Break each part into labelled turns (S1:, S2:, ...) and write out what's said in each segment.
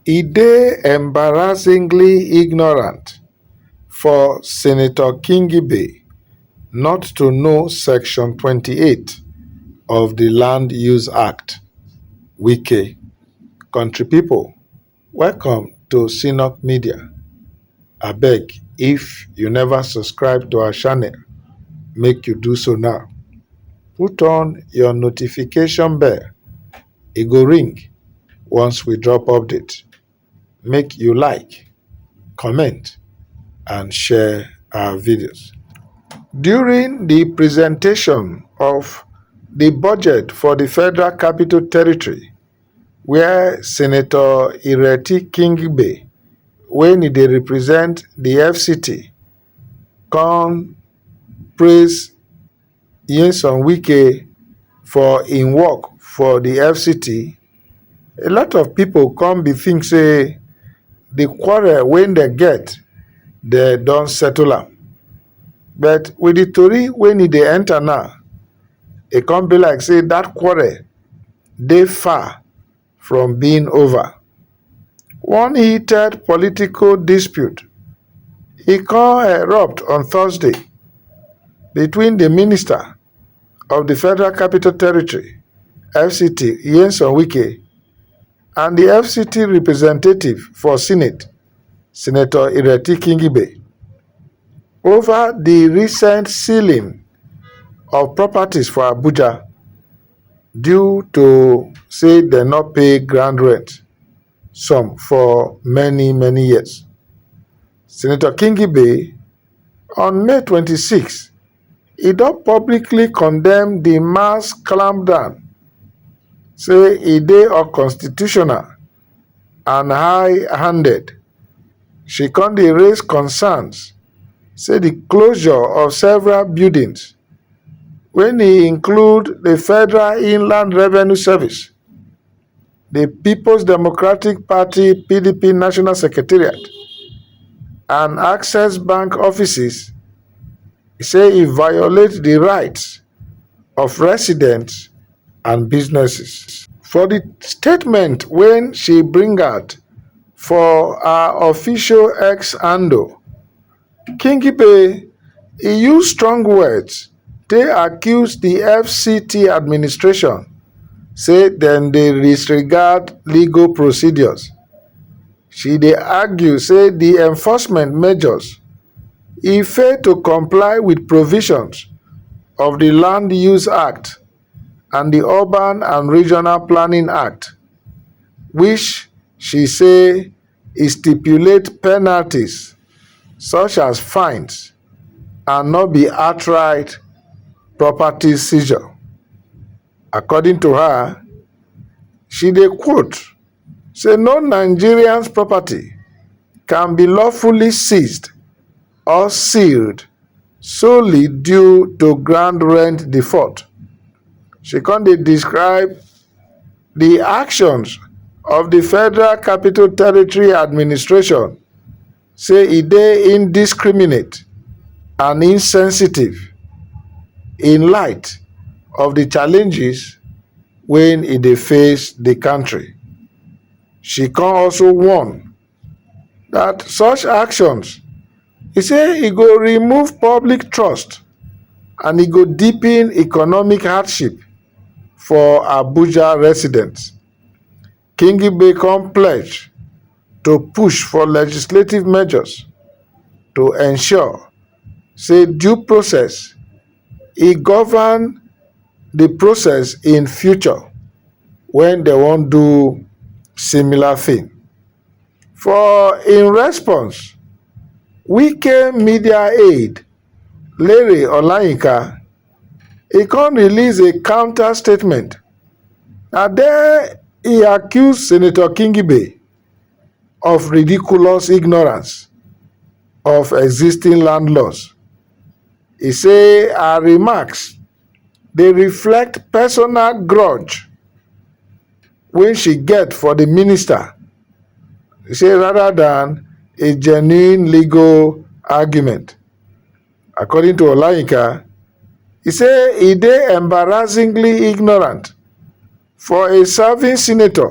S1: e dey embarrassingly ignorant for senator kingibay not to know section 28 of di land use act wike country pipo welcome to cnock media abeg if you neva subscribe to our channel make you do so now put on your notification bell. e go ring once we drop update make you like comment and share our videos during the presentation of the budget for the federal capital territory where senator ireti kingbe when he dey represent the fct come praise Nyesom Wike for im work for di FCT, a lot of pipo come be think say di quarrel wey dem get dem don settle am, but with di tori wey e dey enter now, e come be like say dat quarrel dey far. from being over one heated political dispute e come erupt on thursday between di minister of di federal capital territory fct nyesom wike and di fct representative for senate Senator Ireti Kingibe, over di recent sealing of properties for Abuja due to say dem no pay ground rent some for many many years. Senator Kingibe, on May 26, e don publicly condemn di mass clampdown, say e dey unconstitutional and high-handed she come dey raise concerns say di closure of several buildings wey include di federal inland revenue service di peoples democratic party (pdp) national secretariat and access bank offices say e violate di rights of residents. and businesses. For di statement wey she bring out for her official X handle, Kingibe e use strong words take accuse di FCT administration say dem dey disregard legal procedures. She dey argue say di enforcement measures e fail to comply with provisions of di land use act and di urban and regional planning act which she say e stipulate penalties such as fines and no be outright property seizure according to her she dey quote say no nigerians property can be lawfully seized or sealed solely due to ground rent default she come dey describe di actions of di federal capital territory administration. say e dey indiscriminate and insensitive in light of di challenges wey e dey face di kontri she come also warn dat such actions e say e go remove public trust and e go deepen economic hardship for abuja residents. Kingigbe come pledge to push for legislative measures to ensure say due process e govern di process in future wen dem wan do similar thing. For im response, Wike media aide Lere Olayinka, e come release a counter statement and den e accuse senator kingibe of "ridiculous ignorance" of existing land laws e say her remarks dey reflect personal grudge wey she get for di minister rather dan a genuine legal argument. According to Olayinka, he say he dey embarrassingly ignorant for a serving senator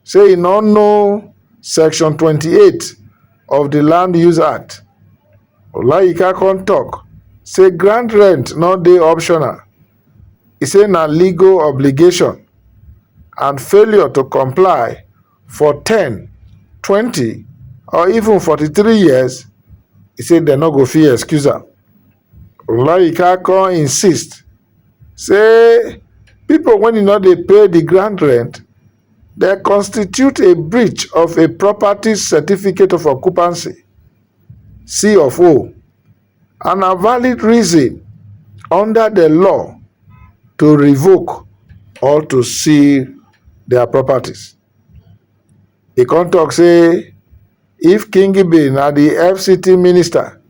S1: say he no know section 28 of the land use act. Olayinka come talk say ground rent no dey optional. He say na legal obligation and failure to comply for ten twenty or even forty three years e say dem no go fit excuse am olayinka kon insist say pipo wey no dey pay di ground rent dey constitute a breach of a property certificate of occupancy c of o. and na valid reason under di law to revoke or to seal dia properties. E come tok say if Kingibe na di FCT minister,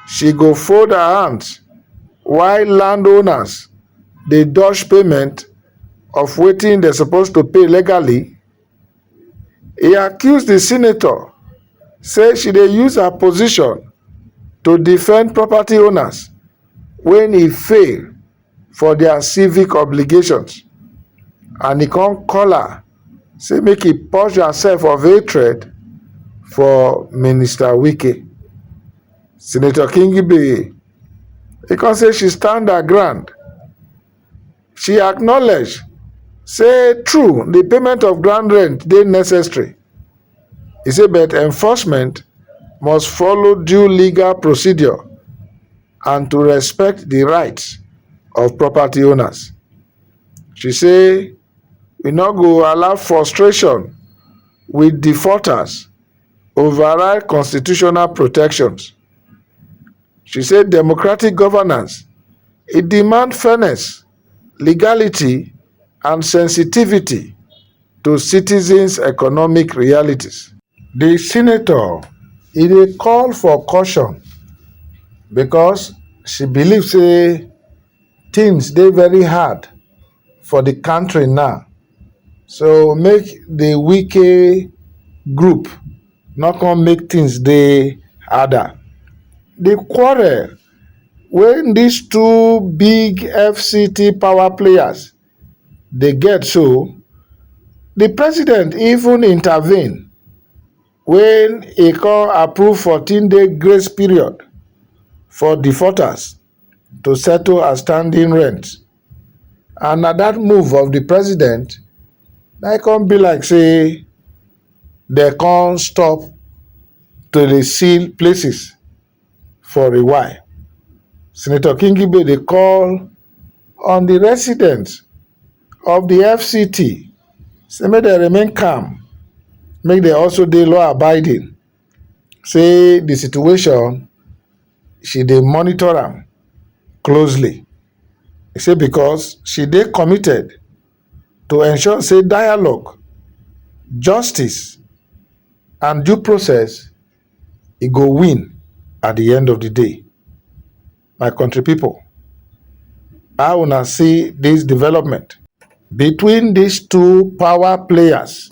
S1: she go fold her hands while landowners dey dodge payment of wetin dem suppose to pay legally e accuse di senator say she dey use her position to defend property owners wen e fail for dia civic obligations and e kon call her say make e purge herself of hatred for minister wike senator kingbe e kon say she stand her ground she acknowledge say true di payment of ground rent dey necessary e say but enforcement must follow due legal procedure and to respect di rights of property owners she say we no go allow frustration wit defaulters override constitutional protections she say democratic governance e demand fairness legality and sensitivity to citizens economic realities. di senator e dey call for caution because she believe say tins dey very hard. for the country now so make the wike group no come make things dey harder. The quarrel wey these two big FCT power players dey get so, the president even intervene when he come approve 14 day grace period for defaulters to settle outstanding rent and na that move of the president na e come be like say dem come stop to dey seal places for a while. Senator Kingibe dey call on the residents of the FCT say make dem remain calm, make dem also dey law abiding. say di situation she dey monitor am closely say becos she dey committed to ensure say dialogue justice and due process e go win at di end of di day. My kontri pipo how una see dis development between dis two power players?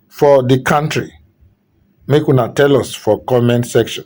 S1: for di kontri make una tell us for comment section